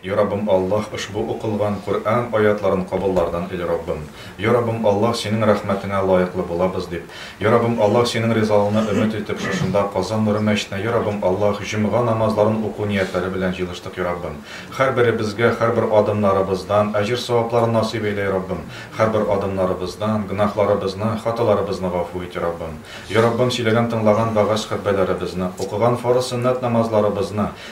Йа Раббым Аллаһ ошбу укылган Коръән аятларын кабыллардан ил Раббым. Йа Раббым Аллаһ синең рәхмәтеңә лаеклы булабыз дип. Йа Раббым Аллаһ синең ризалыгны өмет итеп шушында Казан нуры мәчетенә Йа Раббым Аллаһ җомга намазларын уку ниятләре белән җыелыштык Йа Раббым хәрберебезгә хәрбер адымнарыбыздан әҗер савапларын насыйп әйлә Йа Раббым хәрбер адымнарыбыздан гөнаһларыбызны хаталарыбызны гафу ит Йа Раббым Йа Раббым сөйләгән тыңлаган вәгазь хөтбәләребезне укыган фарыз сөннәт намазларыбызны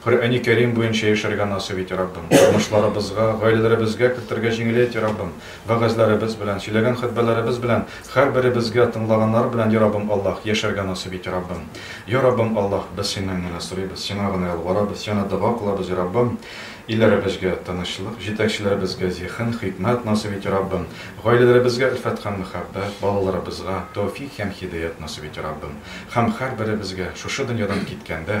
Коръәни Кәрим буенча яшәргә насыйп ит, Раббым. Тормышларыбызга, гаиләләребезгә кертергә җиңеләй ит, Раббым. Вәгазьләребез белән, сөйләгән хөтбәләребез белән һәрберебезгә тыңлаганнар белән, я Раббым Аллаһ, яшәргә насыйп ит, Раббым. Я Раббым Аллаһ, без Синнән генә сорыйбыз, Сиңа гына ялварабыз, Сиңа дога кылабыз, я Раббым. Илләребезгә тынычлык, җитәкчеләребезгә зиһен, хикмәт насыйп ит, Раббым. Гаиләләребезгә өлфәт һәм мәхәббәт, балаларыбызга тәүфик һәм һидаять насыйп ит, Раббым. Һәм һәрберебезгә, шушы дөньядан киткәндә,